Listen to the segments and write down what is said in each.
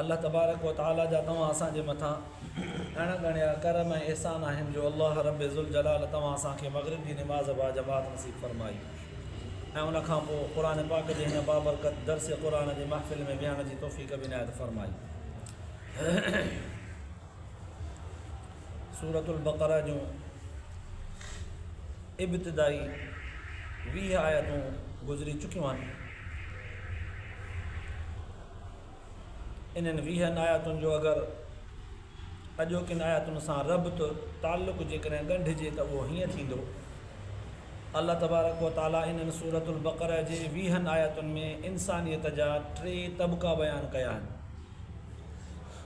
الله تبارڪ و تعاليٰ جا توهان اسان جي مٿان اڻ ڳڻيا ڪرم ۽ احسان آهن جو الله رب ذوالجلال توهان اسان کي مغرب جي نماز با جماعت نصيب فرمائي ۽ ان کان پوء قرآن پاڪ جي هن بابرڪت درس قرآن جي محفل ۾ ويهڻ جي توفيق به عنايت فرمائي. سورة البقرة جون ابتدائي ويهه آيتون گذري چڪيون آهن. انهن ويهن آيتن جو اگر اڄوڪين آيتن سان ربط تعلق جيڪڏهن ڳنڍجي ته اهو هيئن ٿيندو الله تبارڪ و تعاليٰ انهن سورة البقرة جي ويهن آيتن ۾ انسانيت جا ٽي طبقا بيان ڪيا آهن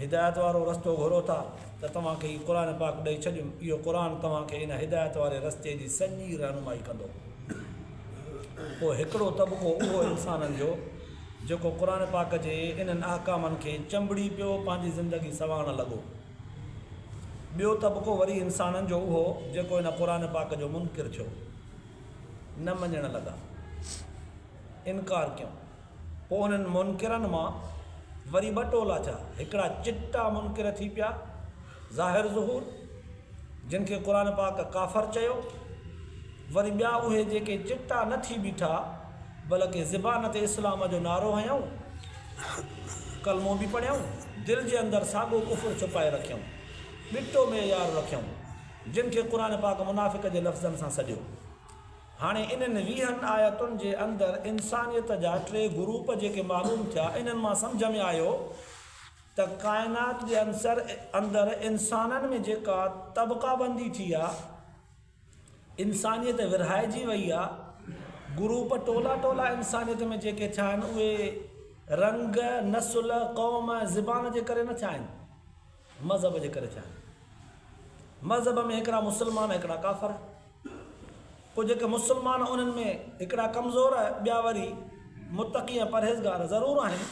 هدايت وارو رستو گهرو ٿا ته توهان کي هي قرآن پاڪ ڏئي ڇڏيون، اهو قرآن توهان کي ان هدايت واري رستي جي سڄي رهنمائي ڪندو. پوء هڪڙو طبقو اهو انسانن جو جيڪو قرآن پاڪ جي انهن احڪامن کي چنبڙي پيو پنهنجي زندگي سنوارڻ لڳو. ٻيو طبقو وري انسانن جو اهو جيڪو ان قرآن پاڪ جو منڪر ٿيو، نه مڃڻ لڳا، انڪار ڪيون. پوء انهن منڪرن مان وري ٻه ٽولا ٿيا، هڪڙا چٽا منڪر ٿي پيا، ظاهر ظهور، جن کي قرآن پاڪ ڪافر چيو، وري ٻيا اهي جيڪي چٽا نه ٿي بيٺا بلڪه زبان تي اسلام جو نعرو هنيائون، ڪلمو به پڙهيائون، دل جي اندر ساڳو ڪفر ڇپائي رکيائون، ٻٽو معيار رکيائون، جن کي قرآن پاڪ منافق جي لفظن سان سڏيو. هاڻي انهن ويهن آيتن جي اندر انسانيت جا ٽي گروپ جيڪي معلوم ٿيا انهن مان سمجهه ۾ آيو ته ڪائنات جي عنصر اندر انسانن ۾ جيڪا طبقه بندي ٿي آ انسانيت ورهائجي وئي آ گروپ ٽولا ٽولا انسانيت ۾ جيڪي ٿيا آهن اهي رنگ، نسل، قوم ۽ زبان جي ڪري نه ٿيا آهن. مذهب جي ڪري چاهي ٿو. مذهب ۾ هڪڙا مسلمان ۽ هڪڙا ڪافر. پوء جيڪي مسلمان انهن ۾ هڪڙا ڪمزور ٻيا وري متقي ۽ پرهيزگار ضرور آهن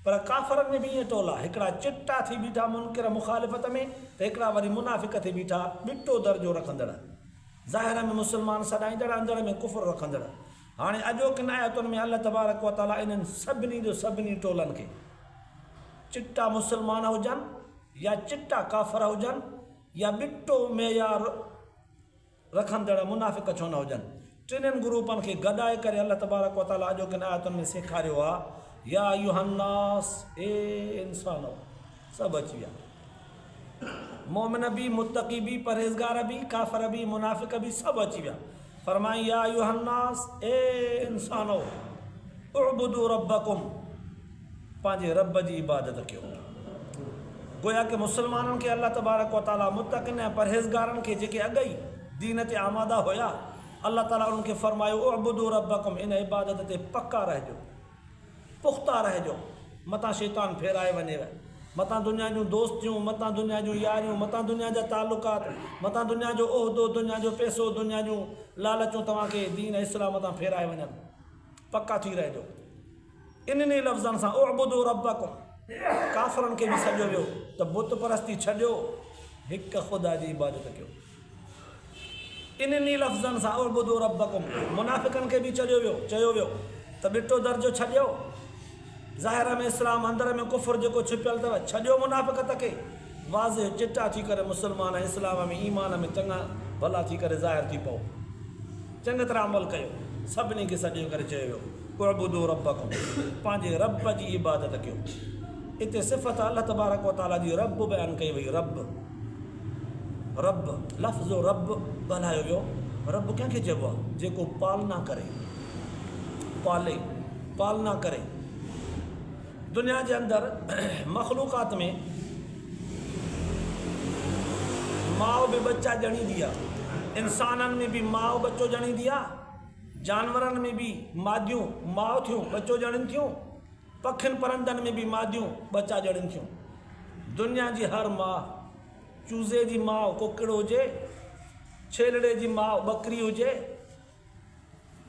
پر ڪافرن ۾ به ايئن ٽولا هڪڙا چٽا ٿي بيٺا منڪر مخالفت ۾ ته هڪڙا وري منافق ٿي بيٺا ٻٽو درجو رکندڙ ظاهر ۾ مسلمان سڏائيندڙ اندر ۾ ڪفر رکندڙ هاڻي اڄوڪين آيتن ۾ الله تبارڪ وتعاليٰ انهن سڀني جو سڀني ٽولن کي چٽا مسلمان هجن يا چٽا ڪافر هجن يا ٻٽو معيار رکندڙ منافق ڇو نه هجن ٽنهن گروپن کي گڏائي ڪري الله تبارڪ و تعالي اڄوڪين آيتن ۾ سيکاريو آهي يا ايها الناس اي انسانؤ سڀ اچي ويا مؤمن به، متقي به، پرهيزگار به، ڪافر به، منافق به سڀ اچي ويا. فرمائين، يا ايها الناس، اي انسانؤ! اعبدوا ربکم، پنهنجي رب جي عبادت ڪيو. گويا ڪه مسلمانن کي الله تبارڪ و تعالي متقين ۽ پرهيزگارن کي جيڪي اڳ ئي دين تي آماده هيا، الله تعالي انهن کي فرمايو، اعبدوا ربکم، ان عبادت تي پڪا رهجو. پختا رهجو، متان شيطان ڦيرائي وڃيو، متان دنيا جون دوستيون، متان دنيا جون ياريون، متان دنيا جا تعلقات، متان دنيا جو عهدو، دنيا جو پئسو، دنيا جون لالچون توهان کي دين اسلام تان ڦيرائي وڃن، پڪا ٿي رهجو. انهن ئي لفظن سان اعبدوا ربکم ڪافرن کي به سڏيو ويو ته بت پرستي ڇڏيو، هڪ خدا جي عبادت ڪيو. انھني لفظن سان اعبدوا ربکم منافقن کي به چڏيو ويو، چيو ويو ته ڏٽو درجو ڇڏيو، ظاهر ۾ اسلام اندر ۾ ڪفر جيڪو ڇپيل اٿو، ڇڏيو منافقت کي، واضح چٽا ٿي ڪري مسلمان ۽ اسلام ۾ ايمان ۾ چڱا ڀلا ٿي ڪري ظاهر ٿي پئو، چڱي طرح عمل ڪيو، سڀني کي سڏي ڪري چيو ويو اعبدوا ربکم پنھنجي رب جي عبادت ڪيو، اتي صفت الله تبارڪ وتعاليٰ جي رب بيان ڪئي وئي، رب. رب، لفظ رب ڳالهايو ويو. رب ڪنهن کي چئبو آهي؟ جيڪو پالنا ڪري، پالي، پالنا ڪري. دنيا جي اندر مخلوقات ۾ ماء به ٻچا ڄڻيندي آهي. انسانن ۾ به ماء ٻچو ڄڻيندي آهي. جانورن ۾ به ماديون ماء ٿيون ٻچو ڄڻين ٿيون. پکين پرندن ۾ به ماديون ٻچا ڄڻن ٿيون. دنيا جي هر ماء، چوزي جي ماء ڪڪڙ هجي، ڇيلڙي جي ماء ٻڪري هجي،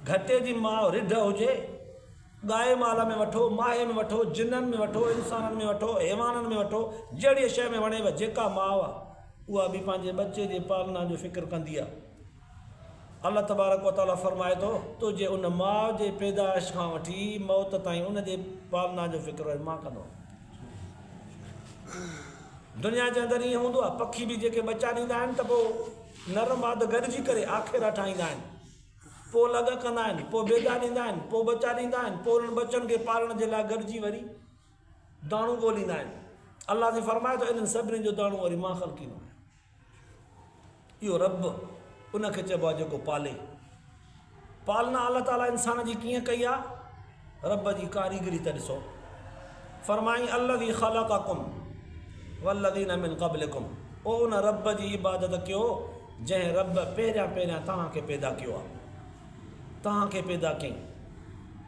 گهٽي جي ماء رڍ هجي، ڳائي مال ۾ وٺو، ماهي ۾ وٺو، جنن ۾ وٺو، انسانن ۾ وٺو، حيوانن ۾ وٺو، جهڙيء شيء ۾ وڻيو، جيڪا ماء اها به پنهنجي ٻچي جي پالنا جو فڪر ڪندي آهي. الله تبارڪ و تعالي فرمائي ٿو تو جي ان ماء جي پيدائش کان وٺي موت تائين ان جي پالنا جو فڪر اهي مان ڪندو آهيان. دنيا جي اندر ائين هوندو آهي پکي به جيڪي ٻچا ڏيندا آهن ته پوء نر ماد گڏجي ڪري آکيرا ٺاهيندا آهن پوء لڳ ڪندا آهن پوء بيدا ڏيندا آهن پوء ٻچا ڏيندا آهن پوء انهن ٻچن کي پالڻ جي لاء گڏجي وري داڻو ڳوليندا آهن الله جي فرمائي ٿو انهن سڀني جو داڻو وري مان خلقيندو آهيان. اهو رب ان کي چئبو آهي جيڪو پالي. پالنا الله تعاليٰ انسان جي ڪيئن ڪئي آهي؟ رب جي ڪاريگري ته ڏسو. فرمائين الذي خلقكم والذين من قبلكم او ان رب جي عبادت ڪيو جنهن رب پهريان پهريان توهان کي پيدا ڪيو آهي. توهان کي پيدا ڪيائين.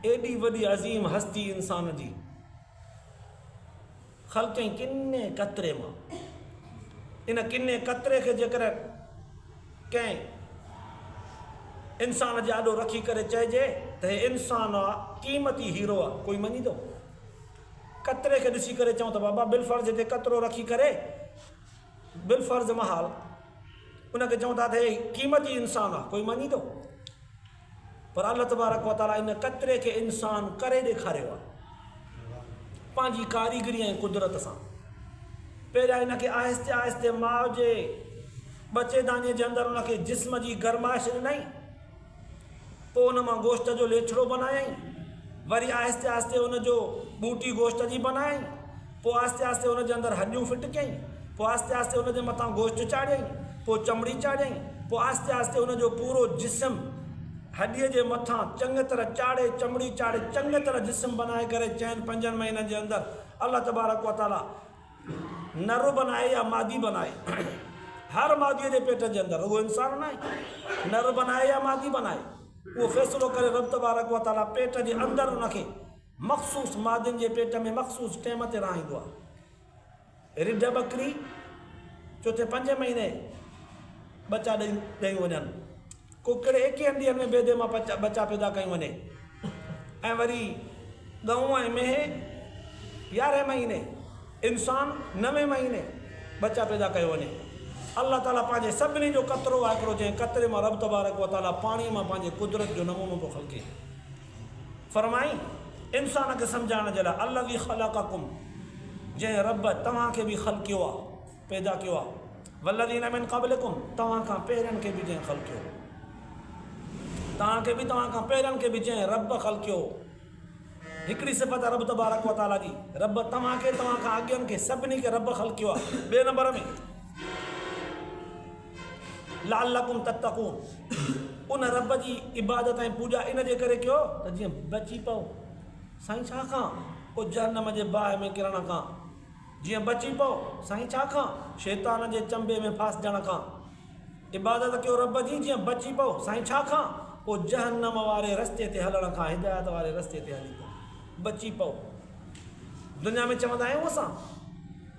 ايڏي وڏي عظيم هستي انسان جي. خلق ۽ ڪني قطري مان ان ڪني قطري کي جيڪر ڪنهن انسان جي آڏو رکي ڪري چئجي ته هي انسان آ قيمتي هيرو آ ڪوئي مڃيندو؟ قطري کي ڏسي ڪري چئون ته بابا بالفرض هتي قطرو رکي ڪري بالفرض محال ان کي چئون ٿا ته هي قيمتي انسان آ ڪوئي مڃيندو؟ پر الله تبارڪ و تعاليٰ ان قطري کي انسان ڪري ڏيکاريو آهي پنهنجي ڪاريگري ۽ قدرت سان. پهريان ان کي آهستي آهستي ماء جي ٻچي دانيء جي اندر ان کي جسم جي گرمائش ڏنائين، پوء ان مان گوشت جو ليڇڙو بنايائين، وري آهستي آهستي ان جو ٻوٽي گوشت جي بنايائين، پوء آهستي آهستي ان جي اندر هڏيون فٽ ڪيائين، پوء آهستي آهستي ان جي مٿان گوشت چاڙهيائين، پوء چمڙي چاڙهيائين، پوء آهستي آهستي ان جو پورو جسم هڏيء جي مٿان چڱيء طرح چاڙهي، چمڙي چاڙهي، چڱيء طرح جسم بنائي ڪري چئن پنجن مهينن جي اندر الله تبارڪ و تعاليٰ نر بنائي يا مادي بنائي هر ماديء جي پيٽ جي اندر رڳو انسان ناهي نر بنائي يا مادي بنائي اهو فيصلو ڪري رب تبارڪ و تعاليٰ پيٽ جي اندر ان کي مخصوص مادن جي پيٽ ۾ مخصوص ٽيم تي رهائيندو آهي. رڍ ٻڪري چوٿين پنجين مهيني ٻچا ڏيون وڃن. ڪڪڙ ايڪيهن ڏينهن ۾ بيدي مان ٻچا پيدا ڪيون وڃي ۽ وري ڳئون ۽ مينهن يارهين مهيني انسان نوين مهيني ٻچا پيدا ڪيو وڃي. الله تعالي پنهنجي سڀني جو قطرو آهي هڪڙو جنهن قطري مان رب تبارڪ وتعالي پاڻي مان پنهنجي قدرت جو نمونو ٿو خلقي. فرمائي، انسان کي سمجهائڻ جي لاء، الذي خلقکم، جنهن، رب، توهان کي به خلقيو آ، پيدا ڪيو آ، والذين من قبلکم، توهان کان پهرين کي به جنهن خلقيو هو. توهان کي به توهان کان پهرين کي به جنهن، رب، خلقيو هو. هڪڙي صفت آ رب تبارڪ و تعاليٰ جي، رب، توهان کي، توهان کان اڳين کي، سڀني کي، رب، خلقيو آ. ٻئي نمبر ۾. لعلڪم تتقون ان رب جي عبادت ۽ پوڄا ان جي ڪري ڪيو ته جيئن بچي پئو سائين ڇا کان او جهنم جي باهه ۾ ڪرڻ کان جيئن بچي پئو سائين ڇا کان شيطان جي چنبي ۾ ڦاسجڻ کان عبادت ڪيو رب جي جيئن بچي پئو سائين ڇا کان او جهنم واري رستي تي هلڻ کان هدايت واري رستي تي هلي پئو بچي پئو دنيا ۾ چوندا آهيون اسان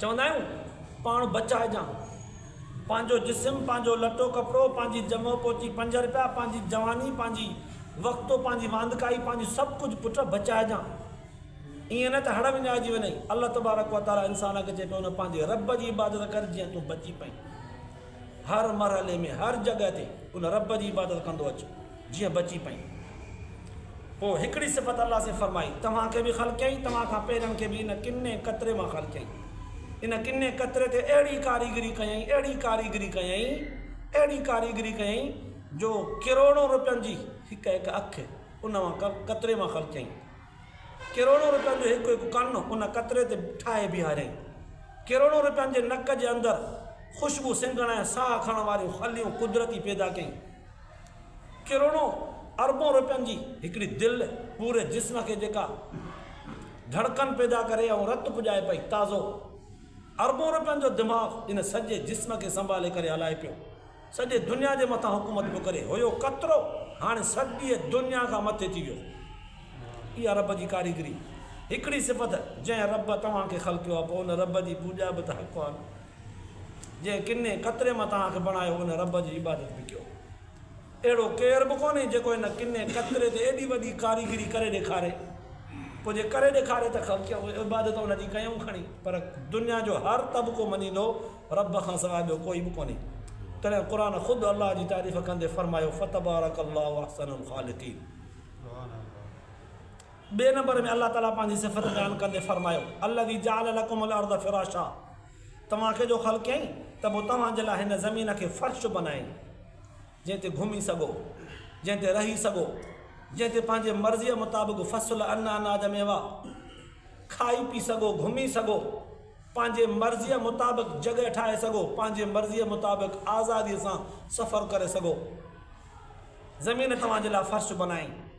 چوندا آهيون پاڻ بچائجان پنهنجو جسم پنهنجو لٽو ڪپڙو پنهنجي جمعو پوچي پنج رپيا پنهنجي جواني پنهنجي وقتو پنهنجي واندڪائي پنهنجو سڀ ڪجهه پٽ بچائجان ائين نه ته هڙ وڃائجي وڃئي الله تبارڪ و تعالي انسان کي چئي پيو نه پنهنجي رب جي عبادت ڪر جيئن تون بچي پئين هر مرحلي ۾ هر جڳهه تي ان رب جي عبادت ڪندو اچ جيئن بچي پيون. پوء هڪڙي صفت الله سين فرمائي، توهان کي به خلقيائين، توهان کان پهرين کي به ان ڪني قطري مان خلقيائين. ان ڪني قطري تي اهڙي ڪاريگري ڪيائين، اهڙي ڪاريگري ڪيائين، اهڙي ڪاريگري ڪيائين جو ڪروڙون روپين جي هڪ هڪ اک ان قطري مان خلقيائين. ڪروڙون روپين جو هڪ هڪ ڪن ان قطري تي ٺاهي بيهاريائين. ڪروڙون روپين جي نڪ جي اندر خوشبو سنگهڻ ۽ ساهه کڻڻ واريون خليون قدرتي پيدا ڪيائين. ڪروڙون اربون روپين جي هڪڙي دل پوري جسم کي جيڪا ڌڙڪن پيدا ڪري ۽ رت پڄائي پئي تازو اربون روپين جو دماغ ان سڄي جسم کي سنڀالي ڪري هلائي پيو سڄي دنيا جي مٿان حڪومت پيو ڪري هيو ڪترو هاڻي سڄي دنيا کان مٿي ٿي ويو اها رب جي ڪاريگري هڪڙي صفت جنهن رب توهان کي خلقيو آهي پوء ان رب جي پوڄا به ته حق آهي جنهن ڪني قطري مان توهان کي بڻايو ان رب جي عبادت به ڪيو. اهڙو ڪير به ڪونهي جيڪو ان ڪني قطري تي ايڏي وڏي ڪاريگري ڪري ڏيکاري. پوء جي ڪري ڏيکاري ته خلق عبادت ان جي ڪيائون کڻي. پر دنيا جو هر طبقو مڃيندو رب کان سواء ٻيو ڪوئي به ڪونهي. تڏهن قرآن خود الله جي تعريف ڪندي فرمايو فتبارڪ الله احسن الخالقين. ٻئي نمبر ۾ الله تعاليٰ پنهنجي صفت بيان ڪندي فرمايو، الذي جعل لڪم الارض فراشا توهان کي جو خلقيائين ته پوء توهان جي لاء هن زمين کي فرش بنايائين جنهن تي گهمي سگهو، جنهن تي رهي سگهو، جنهن تي پنهنجي مرضيء مطابق فصل ان اناج ميوا کائي پي سگهو، گهمي سگهو، پنهنجي مرضيء مطابق جڳهه ٺاهي سگهو، پنهنجي مرضيء مطابق آزاديء سان سفر ڪري سگهو. زمين توهان جي لاء فرش بنايائين.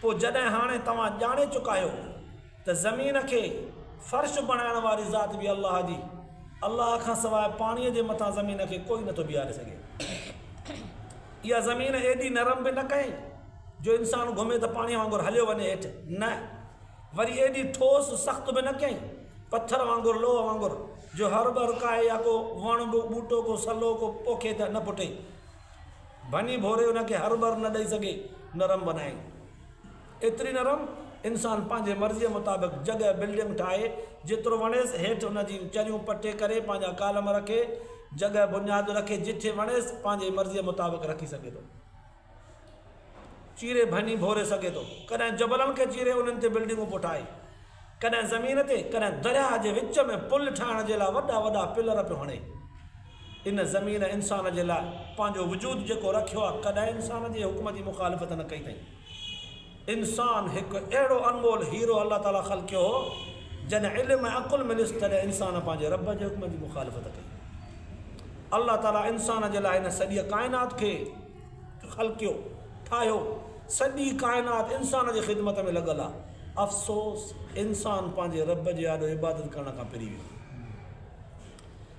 پوء جڏهن هاڻي توهان ڄاڻي چڪا آهيو ته زمين کي فرش بڻائڻ واري ذات به الله جي، الله کان سواء پاڻيء جي مٿان زمين کي ڪوئي نٿو بيهاري سگهي. اها زمين ايڏي نرم به نه ڪيائين جو انسان گهمي ته پاڻيء وانگر هليو وڃي هيٺ، نه، وري ايڏي ٺوس، سخت به نه ڪيائين، پٿر وانگر، لوهه وانگر، جو هر ٻرڪائي يا ڪو وڻ، ٻوٽو، ڪو سلو، ڪو پوکي ته نه ڦٽي. ڀڃي ڀوري ان کي هر ٻر نه ڏئي سگهي نرم بنائين. ايتري نرم انسان پنهنجي مرضيء مطابق جڳهه بلڊنگ ٺاهي جيترو وڻيس هيٺ ان جي چريون پٽي ڪري پنهنجا ڪالم رکي جڳهه بنياد رکي جٺي وڻيس پنهنجي مرضيء مطابق رکي سگهي ٿو. چيري ڀڃي ڀوري سگهي ٿو. ڪڏهن جبلن کي چيري انهن تي بلڊنگون پٺائي، ڪڏهن زمين تي، ڪڏهن درياهه جي وچ ۾ پل ٺاهڻ جي لاء وڏا وڏا پلر پيو هڻي. ان زمين انسان جي لاء پنهنجو وجود جيڪو رکيو آهي، ڪڏهن انسان جي حڪم جي مخالفت نه ڪئي اٿئي. انسان هڪ اهڙو انمول هيرو الله تعاليٰ خلقيو هو، جڏهن علم ۽ عقل مليس تڏهن انسان پنهنجي رب جي حڪم جي مخالفت ڪئي. الله تعاليٰ انسان جي لاء هن سڄيء ڪائنات کي. خلقيو، ٺاهيو، سڄي ڪائنات انسان جي خدمت ۾ لڳل آ. افسوس انسان پنهنجي رب جي آڏو عبادت ڪرڻ کان پري ويو.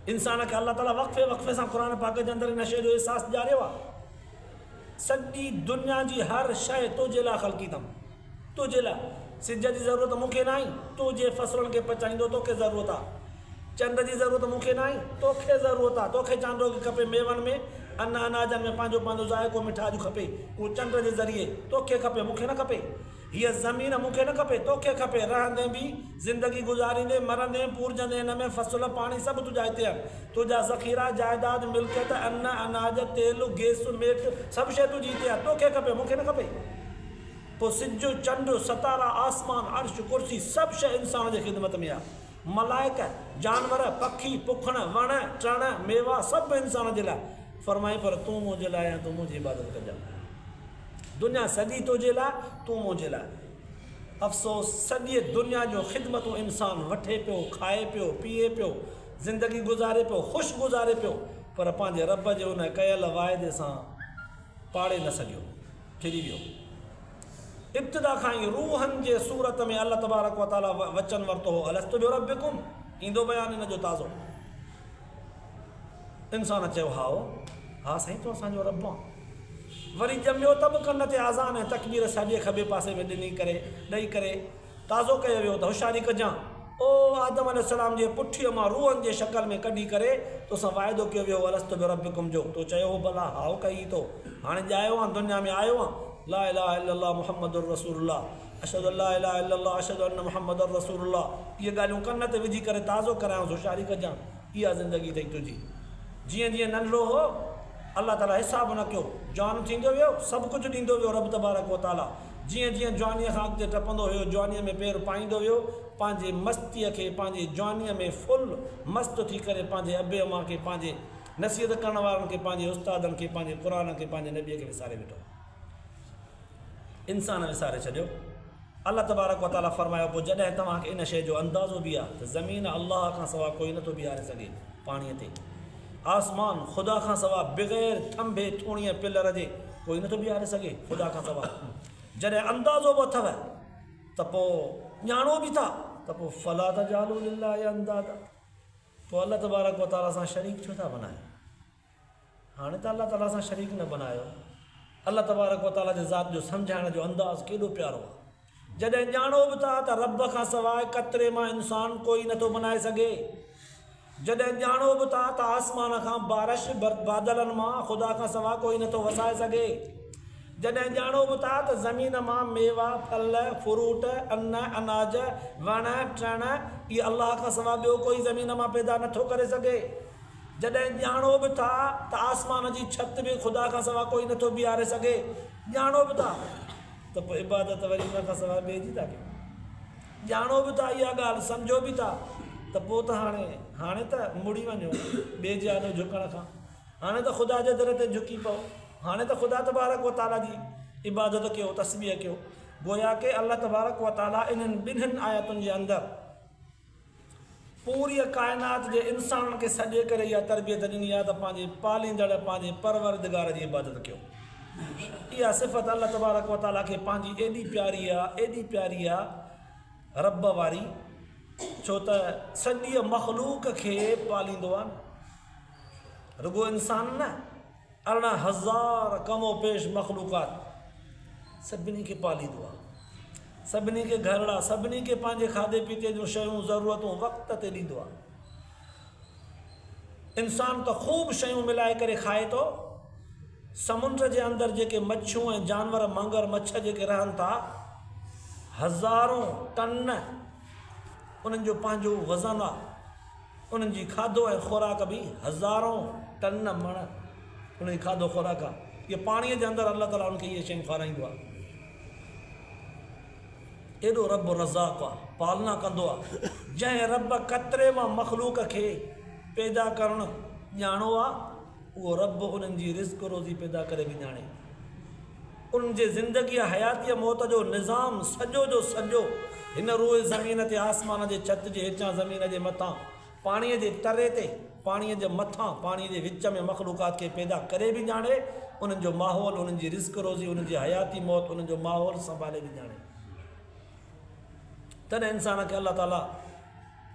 انسان کي الله تعاليٰ وقفي وقفي سان قرآن پاڪ جي اندر نشي جو احساس ڏياريو آ. سڄي دنيا جي هر شيء تنهنجي لاء خلقي اٿم. تنهنجي لاء سج جي ضرورت مون کي ناهي، تون جنهن فصلن کي پچائيندو توکي ضرورت آ. چنڊ جي ضرورت مون کي ناهي، توکي ضرورت آ. توکي چانڊوڪي کپي، ميون ۾، ان اناجن ۾ پنهنجو پنهنجو ذائقو مٺاڄ کپي، اهو چنڊ جي ذريعي توکي کپي، مون کي نه کپي. هيء زمين مون کي نه کپي، توکي کپي. رهندين به، زندگي گذاريندين، مرندين، پورجندين ان ۾ فصل، پاڻي سڀ تنهنجا هتي آهن. تنهنجا ذخيرا، جائداد، ملڪيت، ان، اناج، تيل، گيس، ميٽ، سڀ شيء تنهنجي هتي آ. توکي کپي، مون کي نه کپي. پوء سج، چنڊ، ستارا، آسمان، عرش، ڪرسي سڀ شيء انسان جي خدمت ۾ آ. ملائڪ، جانور، پکي، پکڻ، وڻ، ٽڻ، ميوا سڀ به انسان جي لاء. فرمائي پر تون منهنجي لاء ۽ تون منهنجي عبادت ڪجان. دنيا سڄي تنهنجي لاء، تون منهنجي لاء. افسوس سڄيء دنيا جون خدمتون انسان وٺي پيو، کائي پيو، پيئي پيو، زندگي گذاري پيو، خوش گذاري پيو پر پنهنجي رب جي ان ڪيل واعدي سان پاڙي نه سگهيو. ڦري ويو. ابتدا کان ئي روحن جي صورت ۾ الله تبارڪ و تعاليٰ وچن ورتو هو الست بربڪم؟ ايندو بيان ان جو تازو. انسان چيو هائو، ها سائين تون اسان جو رب آن. وري ڄميو ته به ڪن تي آذان ۽ تڪبير ساڄي کٻي پاسي ۾ ڏني ڪري، ڏئي ڪري تازو ڪيو ويو ته هوشياري ڪجان، او آدم عليه السلام جي پٺيء مان روحن جي شڪل ۾ ڪڍي ڪري تو سان واعدو ڪيو ويو هو الست بربڪم جو، تو چيو هو بلا، هائو ڪئي تو، هاڻي ڄايو آن دنيا ۾ آيو آن، لا اله الا الله محمد رسول الله، اشهد ان لا اله الا الله اشهد ان محمد رسول الله، اهي ڳالهيون ڪن تي وجهي ڪري تازو ڪرايانس هوشياري ڪجان، اها زندگي اٿئي تنهنجي، جيئن جيئن ننڍڙو هو، الله تعاليٰ حساب نه ڪيو، جوان ٿيندو ويو، سڀ ڪجهه ڏيندو ويو رب تبارڪ وتعاليٰ. جيئن جيئن جوانيء کان اڳتي ٽپندو هيو، جوانيء ۾ پير پائيندو ويو، پنهنجي مستيء کي، پنهنجي جوانيء ۾ ڦل مست ٿي ڪري، پنهنجي ابي امان کي، پنهنجي نصيحت ڪرڻ وارن کي، پنهنجي استادن کي، پنهنجي قرآن کي، پنهنجي نبيء کي وساري ويٺو. انسان وساري ڇڏيو. الله تبارڪ و تعاليٰ فرمايو، پوء جڏهن توهان کي ان شيء جو اندازو به آهي ته زمين الله کان سواء ڪوئي نه ٿو بيهاري سگهي، پاڻيء تي. آسمان، خدا کان سوا، بغير ٿنڀي، ٿوڻي ۽ پلر جي ڪوئي نٿو بيهاري سگهي، خدا کان سوا. جڏهن اندازو به اٿئو ته پوء ڄاڻو به ٿا ته پوء فلا تجعلوا لله اندادا، پوء الله تبارڪ و تعاليٰ سان شريڪ ڇو ٿا بنايو؟ هاڻي ته الله تعاليٰ سان شريڪ نه بنايو. الله تبارڪ و تعاليٰ جي ذات جو سمجهائڻ جو انداز ڪيڏو پيارو آهي. جڏهن ڄاڻو به ٿا ته رب کان سواء قطري مان انسان ڪوئي نٿو بنائي سگهي، جڏهن ڄاڻو به ٿا ته آسمان کان بارش بادلن مان خدا کان سواء ڪوئي نٿو وسائي سگهي، جڏهن ڄاڻو به ٿا ته زمين مان ميوا، ڦل، فروٽ، ان، اناج، وڻ، ٽڻ، اهي الله کان سواء ٻيو ڪوئي زمين مان پيدا نٿو ڪري سگهي، جڏهن ڄاڻو به ٿا ته آسمان جي ڇت به خدا کان سواء ڪوئي نٿو بيهاري سگهي، ڄاڻو به ٿا. ته پوء عبادت وري ان کان سواء ٻئي جي ٿا ڪيون. ڄاڻو به ٿا اها ڳالهه، سمجهو به ٿا ته پوء ته هاڻي، هاڻي ته مڙي وڃو ٻئي جي آڏو جهڪڻ کان. هاڻي ته خدا جي در تي جهڪي پئو. هاڻي ته خدا تبارڪ و تعاليٰ جي عبادت ڪيو، تسبيح ڪيو. گويا ڪي الله تبارڪ و تعاليٰ انهن ٻنهين آيتن جي اندر، پوريء ڪائنات جي انسانن کي سڏي ڪري اها تربيت ڏني آهي ته پنهنجي پاليندڙ پنهنجي پروردگار جي عبادت ڪيو. اها صفت الله تبارڪ و تعاليٰ کي پنهنجي ايڏي پياري آهي، ايڏي پياري آهي ربّ واري، ڇو ته سڄيء مخلوق کي پاليندو آهي نه رڳو انسان نه، ارڙهن هزار ڪم و پيش مخلوقات سڀني کي پاليندو آهي، سڀني کي گهرڙا، سڀني کي پنهنجي کاڌي پيتي جون شيون، ضرورتون وقت تي ڏيندو آهي. انسان ته خوب شيون ملائي ڪري کائي ٿو، سمنڊ جي اندر جيڪي مڇيون ۽ جانور مگر مڇ جيڪي رهن ٿا، هزارون ٽن انهن جو پنهنجو وزن آهي. انهن جي کاڌو ۽ خوراڪ به هزارون ٽن مڻ انهن جي کاڌو خوراڪ آهي جي پاڻي جي اندر الله تعالي انهن کي اهي شيون کارائيندو آهي ايڏو رب رزاق آهي پالنا ڪندو آهي جنهن رب قطري مان مخلوق کي پيدا ڪرڻ ڄاڻو آهي اهو رب انهن جي رزق روزي پيدا ڪري به ڄاڻي ان جي زندگيء، حياتيء، موت جو نظام سڄو جو سڄو هن روء زمين تي آسمان جي ڇت جي هيٺيان زمين جي مٿان پاڻيء جي تري تي پاڻيء جي مٿان پاڻيء جي وچ ۾ مخلوقات کي پيدا ڪري به ڄاڻي انهن جو ماحول انهن جي رزق روزي انهن جي حياتي موت انهن جو ماحول سنڀالي به ڄاڻي تڏهن انسان کي الله تعاليٰ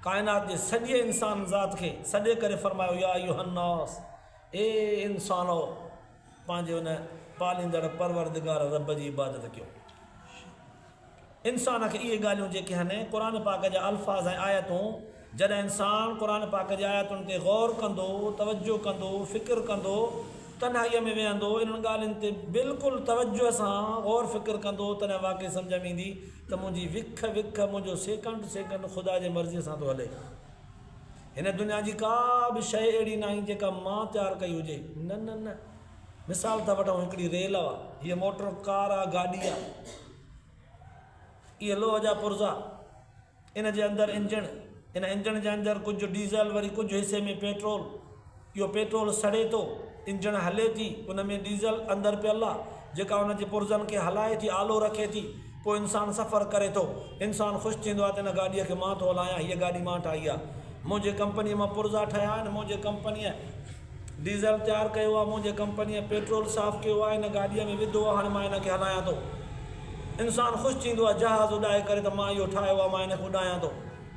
ڪائنات جي سڄي انسان ذات کي سڏي ڪري فرمايو يا ايها الناس اي انسانؤ پنهنجي ان پاليندڙ پروردگار رب جي عبادت ڪيو. انسان کي اهي ڳالهيون جيڪي هن قرآن پاڪ جا الفاظ ۽ آيتون جڏهن انسان قرآن پاڪ جي آيتن تي غور ڪندو، توجه ڪندو، فڪر ڪندو، تنهائيء ۾ ويهندو، انهن ڳالهين تي بلڪل توجه سان غور فڪر ڪندو تڏهن واقعي سمجهه ۾ ايندي ته منهنجي وک وک، منهنجو سيڪنڊ سيڪنڊ خدا جي مرضيء سان ٿو هلي. هن دنيا جي ڪا به شيء اهڙي ناهي جيڪا مان تيار ڪئي هجي. نه نه نه. مثال ٿا وٺون هڪڙي ريل آ. هيء موٽر ڪار آ، گاڏي آ. اهي لوهه جا پرزا. ان جي اندر انجڻ. ان انجڻ جي اندر ڪجهه ڊيزل وري ڪجهه حصي ۾ پيٽرول. اهو پيٽرول سڙي ٿو، انجڻ هلي ٿي، ان ۾ ڊيزل اندر پيل آهي، جيڪا ان جي پرزن کي هلائي ٿي، آلو رکي ٿي. پوء انسان سفر ڪري ٿو. انسان خوش ٿيندو آهي ته هن گاڏيء کي مان ٿو هلايان، هيء گاڏي مان ٺاهي آهي. منهنجي ڪمپنيء مان پرزا ٺهيا آهن، منهنجي ڪمپنيء ڊيزل تيار ڪيو آهي، منهنجي ڪمپنيء پيٽرول صاف ڪيو آهي، هن گاڏيء ۾ وڌو آهي، هاڻي مان ان کي هلايان ٿو. انسان خوش ٿيندو آهي، جهاز اڏائي ڪري ته مان اهو ٺاهيو آهي، مان ان کي اڏايان ٿو.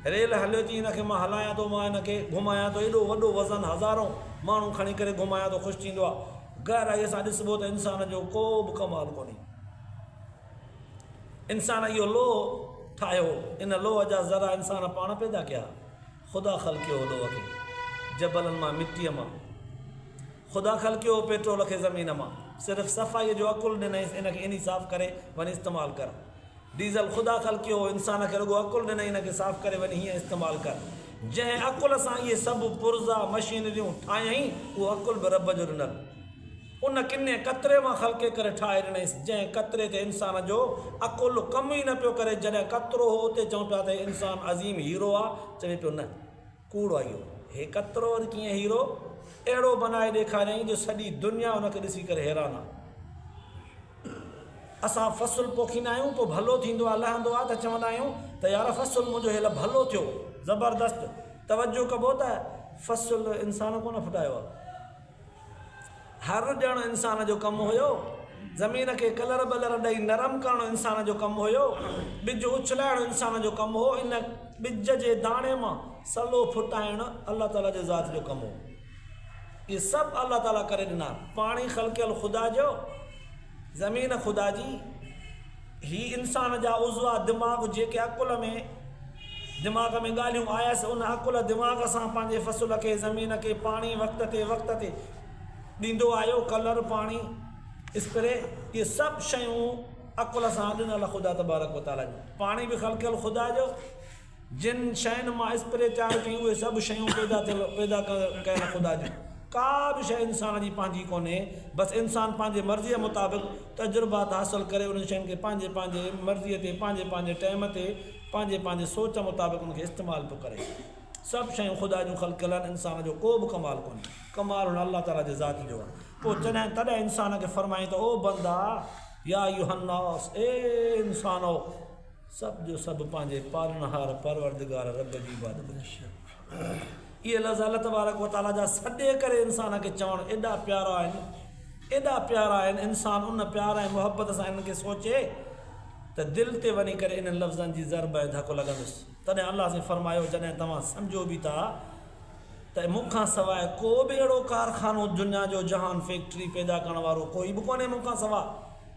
ريل هليو چي هن کي مان هلايان ٿو مان هن کي گهمايان ٿو ايڏو وڏو وزن هزارون ماڻهو کڻي ڪري گهمايان ٿو خوش ٿيندو آ گهرائي سان ڏسبو ته انسان جو ڪو به ڪمال ڪونهي انسان اهو لوهه ٺاهيو ان لوهه جا ذرا انسان پاڻ پيدا ڪيا خدا خلقيو لوهه کي جبلن مان مٽي مان خدا خلقيو پيٽرول کي زمين مان صرف صفائي جو عقل ڏنائيس ان کي اني صاف ڪري وني استعمال ڪر ڊيزل خدا خلقيو هو انسان کي رڳو عقل ڏنائين ان کي صاف ڪري وڃي هيئن استعمال ڪر جنهن عقل سان اهي سڀ پرزا مشينريون ٺاهيائين اهو عقل به رب جو ڏنل ان ڪني قطري مان خلقي ڪري ٺاهي ڏنائينس جنهن قطري تي انسان جو عقل ڪم ئي نه پيو ڪري جڏهن قطرو هو اتي چئون پيا ته هي انسان عظيم هيرو آ چوي پيو نه ڪوڙ آ اهو. هي ڪترو وري ڪيئن هيرو اهڙو بنائي ڏيکاريائين جو سڄي دنيا ان کي ڏسي ڪري حيران آ. اسان فصل پوکيندا آهيون پوء ڀلو ٿيندو آ لهندو آ ته چوندا آهيون ته يار فصل منهنجو هيل ڀلو ٿيو. زبردست توجه ڪبو ته فصل انسان ڪونه ڦٽايو آ. هر ڏيڻ انسان جو ڪم هيو. زمين کي ڪلر بلر ڏئي نرم ڪرڻ انسان جو ڪم هيو. ٻج اڇلائڻ انسان جو ڪم هو. ان ٻج جي داڻي مان سلو ڦٽائڻ الله تعاليٰ جي ذات جو ڪم هو. اهي سڀ الله تعاليٰ ڪري ڏنا. پاڻي خلقيل خدا جو. زمين خدا جي، هي انسان جا عضوا، دماغ، جيڪي عقل ۾، دماغ ۾ ڳالهيون آيس، ان عقل، دماغ، سان پنهنجي فصل کي، زمين کي، پاڻي وقت تي وقت تي ڏيندو آيو، ڪلر، پاڻي، اسپري، اهي سڀ شيون عقل سان ڏنل خدا تبارڪ و تعاليٰ جون، پاڻي به خلقيل خدا جو. جن شين مان اسپري تيار ڪيون اهي سڀ شيون پيدا ٿيل پيدا ڪيل خدا جون ڪا به شيء انسان جي پنهنجي ڪونهي بس انسان پنهنجي مرضيء مطابق تجربات حاصل ڪري انهن شين کي پنهنجي پنهنجي مرضيء تي پنهنجي پنهنجي ٽيم تي پنهنجي پنهنجي سوچ مطابق ان کي استعمال پيو ڪري سڀ شيون خدا جون خلقيل آهن انسان جو ڪو به ڪمال ڪونهي ڪمال هن الله تعاليٰ جي ذات جو آهي پوء جڏهن تڏهن انسان کي فرمائين ته او بندا يا ايها الناس اي انسانؤ سڀ جو سڀ پنهنجي پالڻهار پروردگار رب جي عبادت ۾ شرڪ اهي لفظ الله تبارڪ و تعالي جا سڏي ڪري انسان کي چوڻ ايڏا پيارا آهن ايڏا پيارا آهن انسان ان پيار ۽ محبت سان انهن کي سوچي ته دل تي وڃي ڪري انهن لفظن جي ضرب ۽ ڌڪ لڳندس تڏهن الله سين فرمايو جڏهن توهان سمجھو به ٿا ته مون کان سواء ڪو به اهڙو ڪارخانو دنيا جو جهان فيڪٽري پيدا ڪرڻ وارو ڪوئي به ڪونهي مون کان سواء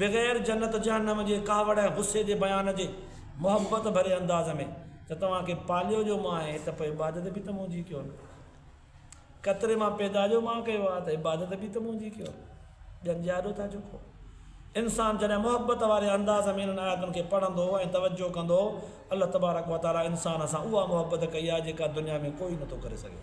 بغير جنت جهنم جي ڪاوڙ ۽ غصي جي بيان جي محبت ڀري انداز ۾ ته توهان کي پاليو جو مان آهي ته پوء عبادت به ته منهنجي ڪيو نه قطري مان پيدا جو مان ڪيو آهي ته عبادت به ته منهنجي ڪيو ڄن جي آڏو ٿا جهڪو انسان جڏهن محبت واري انداز ۾ انهن آياتن کي پڙهندو ۽ توجه ڪندو الله تبارڪ وتعاليٰ انسان سان اها محبت ڪئي آهي جيڪا دنيا ۾ ڪوئي نٿو ڪري سگهي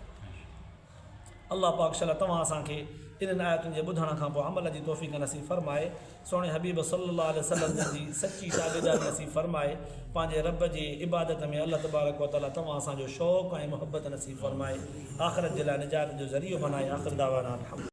الله پاڪ شل توهان اسان کي انهن آيتن جي ٻڌڻ کان پوء عمل جي توفيق نصيب فرمائي سهڻي حبيب صلي الله عليه وسلم جن جي سچي تابعداري نصيب فرمائي پنهنجي رب جي عبادت ۾ الله تبارڪ وتعالي توهان اسان جو شوق ۽ محبت نصيب فرمائي آخرت جي لاء نجات جو ذريعو بنائي آخر دعوانا الحمد.